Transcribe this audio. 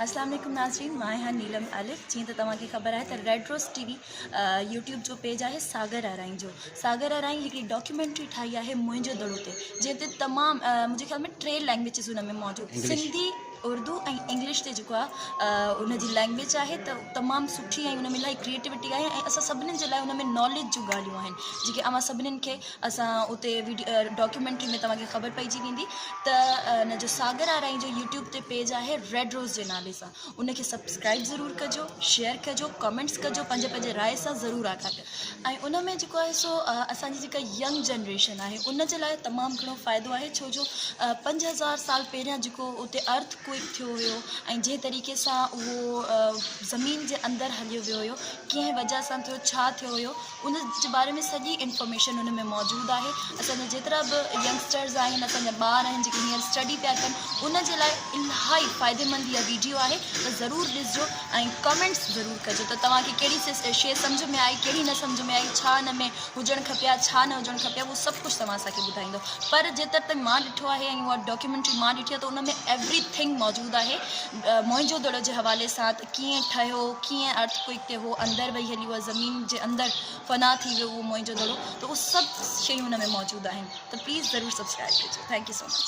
اسلام عليڪم ناظرين مان آهيان نيلم الف جيئن ته توهان کي خبر آهي ته red rose T V YouTube جو پيج آهي ساگر آرائين جو ساگر آرائين هڪڙي ڊاڪيومينٽري ٺاهي آهي منهنجو دڙو تي جنهن تي تمام منهنجي خيال ۾ ٽي لينگويجز ان ۾ موجود سنڌي اردو ۽ انگلش تي جيڪو آهي ان جي لينگويج آهي ته تمام سٺي ۽ ان ۾ الاهي ڪريئيٽوٽي آهي ۽ اسان سڀني جي لاء ان ۾ ناليج جون ڳالهيون آهن جيڪي اوهان سڀني کي اسان اتي ڊاڪيومينٽري ۾ توهان کي خبر پئجي ويندي ته ان جو ساگر آرائين جو يوٽيوب تي پيج آهي ريڊ روز جي نالي سان ان کي سبسڪرائب ضرور ڪجو شيئر ڪجو ڪمينٽس ڪجو پنهنجي پنهنجي راء سان ضرور آگاهه ڪجو ۽ ان ۾ جيڪو آهي سو اسانجي جيڪا ينگ جنريشن آهي ان جي لاء تمام گهڻو فائدو آهي ڇو جو پنج هزار سال پهريان جيڪو اتي ارٿ ڪوئڪ ٿيو هيو ۽ جنهن طريقي سان اهو زمين جي اندر هليو ويو هيو ڪنهن وجه سان ٿيو ڇا ٿيو هيو ان جي باري ۾ سڄي انفارميشن ان ۾ موجود آهي اسان جا جيترا به ينگسٽرز آهن اسان جا ٻار آهن جيڪي هينئر اسٽڊي پيا ڪن ان جي لاء الاهي فائدي مند اها ويڊيو آهي ته ضرور ڏسجو ۽ ڪمينٽس ضرور ڪجو ته توهان کي ڪهڙي شيء سمجھ ۾ آئي ڪهڙي نه سمجھ ۾ آئي ڇا ان ۾ هجڻ کپي ها ڇا نه هجڻ کپي ها اهو سڀ ڪجھ توهان اسان کي ٻڌائيندو پر جيتر تائين مان ڏٺو آهي ۽ اها ڊاڪيومينٽري مان ڏٺي آهي ته ان ۾ ايوري ٿنگ موجود آهي موهن جو دڙو جي حوالي سان ڪيئن ٺهيو، ڪيئن Earthquake تي هو اندر وهي هليو ۽ زمين جي اندر فنا ٿي ويو اهو موئن جو دڙو ته اهو سڀ شيون ان ۾ موجود آهن ته پليز ضرور سبسڪرائب ڪجو ٿينڪ يو سو مچ.